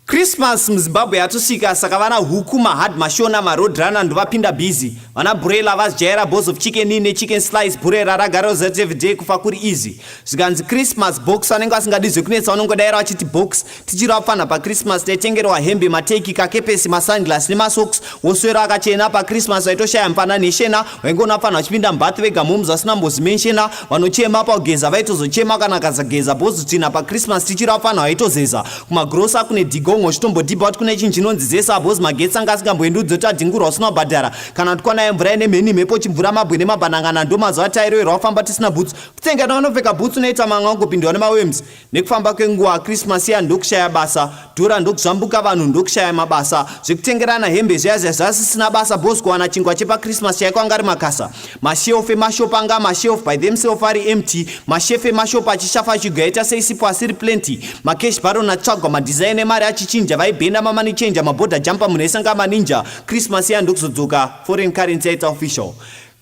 Christmas muZimbabwe yatosvika saka vana huku mahard mashona maroad runner ndovapinda busy vana burela vazjaira balls of chicken in nechicken slice burera ragara zat everyday kufa kuri easy zvikanzi Christmas box vanenge vasingadi zvekunetsa vanongodaira vachiti box tichiri vapfanha paChristmas taitengerwa hembe mateki kakepesi masunglass nemasocks woswera akachena paChristmas vaitoshaya mfana neshena vaingoona pfanhu vachipinda mbath vega moms vasina mbozi menshena vanochema pakugeza vaitozochema kana kazageza bozotina pachristmas tichira pfanhu vaitozeza kumagrosa kune digongo chitombodhibha kuti kune chinhu chinonzi zesa bos magetsi anga asingamboendi udzoti adhingurwa usina kubhadhara kana kuti kwanaya mvura ine mheni mhepo chimvura mabwe nemabanangana ndomazuva tairoerwa kufamba tisina bhutsu kutsenga navanopfeka bhutsu noita manga ungopindwa nemawems Nekufamba kwenguva Christmas iya ndokushaya basa, dhora ndokuzvambuka vanhu ndokushaya mabasa. Zvekutengerana hembe zviya zviya zvasisina basa boss kuwana chingwa chepa Christmas chaiko anga ari makasa. Mashelf emashop anga mashelf by themself ari empty, mashef emashop achishafa chigwa yaita sei sipo asiri plenty. Macash baron atsvagwa madesign emari achichinja vaibhenda mamani changer maborder jumper munhu esanga maninja. Christmas iya ndokuzodzoka foreign currency yaita official.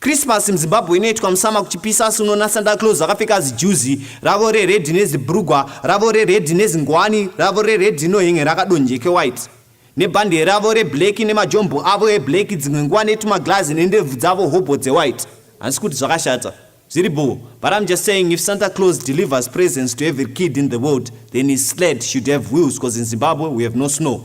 Christmas muZimbabwe inoitwa musama kuchipisa asi unoona Santa Claus akapfeka zijuzi ravo rered nezibrugwa ravo rered nezingwani ravo rered inohenge rakadonjeke white nebhande ravo reblack nemajombo avo eblack dzimwe nguva netumaglazi nendebvu dzavo hobho dzewhite hansi kuti zvakashata zviri bho but im just saying if Santa Claus delivers presence to every kid in the world then his sled should have wheels because in Zimbabwe we have no snow